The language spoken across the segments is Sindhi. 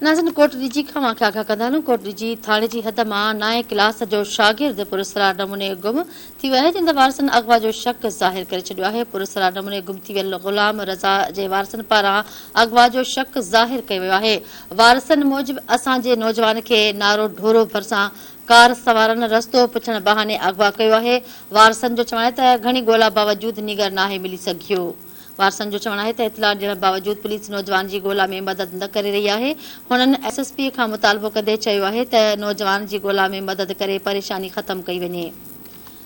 ناظرين ڪوٽ ڏجي کان اوهان کي آگاهه ڪندا هلون ڪوٽ ڏجي ٿاڻي جي حد مان نائين ڪلاس جو شاگرد پراسرار نموني گم ٿي ويو آهي جنهن تي وارثن اغوا جو شڪ ظاهر ڪري ڇڏيو آهي پراسرار نموني گم ٿي ويل غلام رضا جي وارثن پاران اغوا جو شڪ ظاهر ڪيو ويو آهي وارثن موجب اسان جي نوجوان کي نارو ڍورو ڀرسان ڪار سوارن رستو پڇڻ بهاني اغوا ڪيو آهي وارثن جو چوڻ آهي ته گهڻي ڳولا باوجود نينگر ناهي ملي سگهيو. وارثن جو چوڻ آهي ته اطلاع ڏيڻ باوجود پوليس نوجوان جي ڳولا ۾ مدد نه ڪري رهي آهي، هنن ايس ايس پي کان مطالبو ڪندي چيو آهي ته نوجوان جي ڳولا ۾ مدد ڪري پريشاني ختم ڪئي وڃي.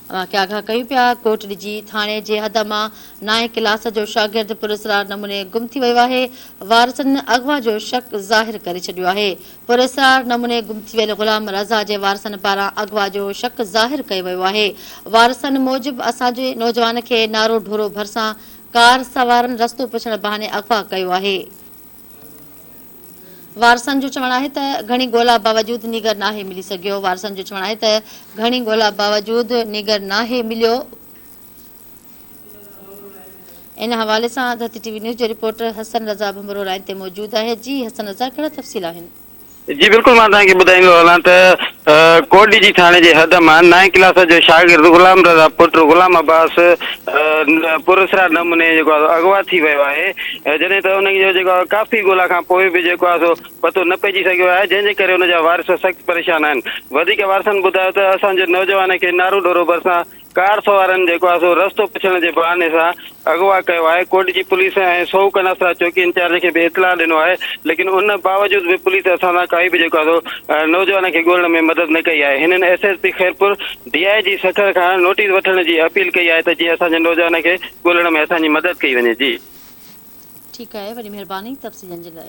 اوهان کي آگاهه ڪيون پيا، ڪوٽڙي جي ٿاڻي جي حد مان نائين ڪلاس جو شاگرد پراسرار نموني گم ٿي ويو آهي، وارثن اغوا جو شڪ ظاهر ڪري ڇڏيو آهي، پراسرار نموني گم ٿي ويل غلام رضا جي وارثن پاران اغوا جو شڪ ظاهر ڪيو ويو آهي. وارثن موجب اسان جي نوجوان کي نارو ڍورو ڀرسان ڪار سوارن رستو پڇڻ بهاني اغوا ڪيو آهي. وارثن جو چوڻ آهي ته گهڻي ڳولا باوجود نيڳر ناهي ملي سگهيو وارثن جو چوڻ آهي ته گهڻي ڳولا باوجود نيڳر ناهي مليو. ان حوالي سان آزادي ٽي وي نيوز جو رپورٽر حسن رضا ڀنڀرو لائين تي موجود آهي، جي حسن رضا ڪهڙا تفصيل آهن؟ جي بلڪل مان توهان کي ٻڌائيندو هلان ته ڪوٽ ڊي جي ٿاڻي جي حد مان نائين ڪلاس جو شاگرد غلام رضا پٽ غلام عباس پراسرار نموني جيڪو آهي اغوا ٿي ويو آهي جڏهن ته ان جو جيڪو ڪافي ڳولا کان پوء به جيڪو آهي سو پتو نه پئجي سگهيو آهي جنهن جي ڪري ان جا وارث سخت پريشان آهن وڌيڪ وارثن ٻڌايو ته اسان جي نوجوان کي نارو ڍورو ڀرسان ڪار سوارن جيڪو آهي سو رستو پڇڻ جي بهاني سان اغوا ڪيو آهي، ڪوٽڏجي پوليس ۽ سئو ڪناسرا چوڪي انچارج کي به اطلاع ڏنو آهي، ليڪن ان باوجود به پوليس اسان سان ڪائي به جيڪو آهي سو نوجوان کي ڳولڻ ۾ مدد نه ڪئي آهي، هنن S S P Khairpur, D I G Sukkur کان نوٽيس وٺڻ جي اپيل ڪئي آهي ته جيئن اسان جي نوجوان کي ڳولڻ ۾ اسان جي مدد ڪئي وڃي. جي. ٺيڪ آهي وڏي مهرباني تفصيلن جي لاء.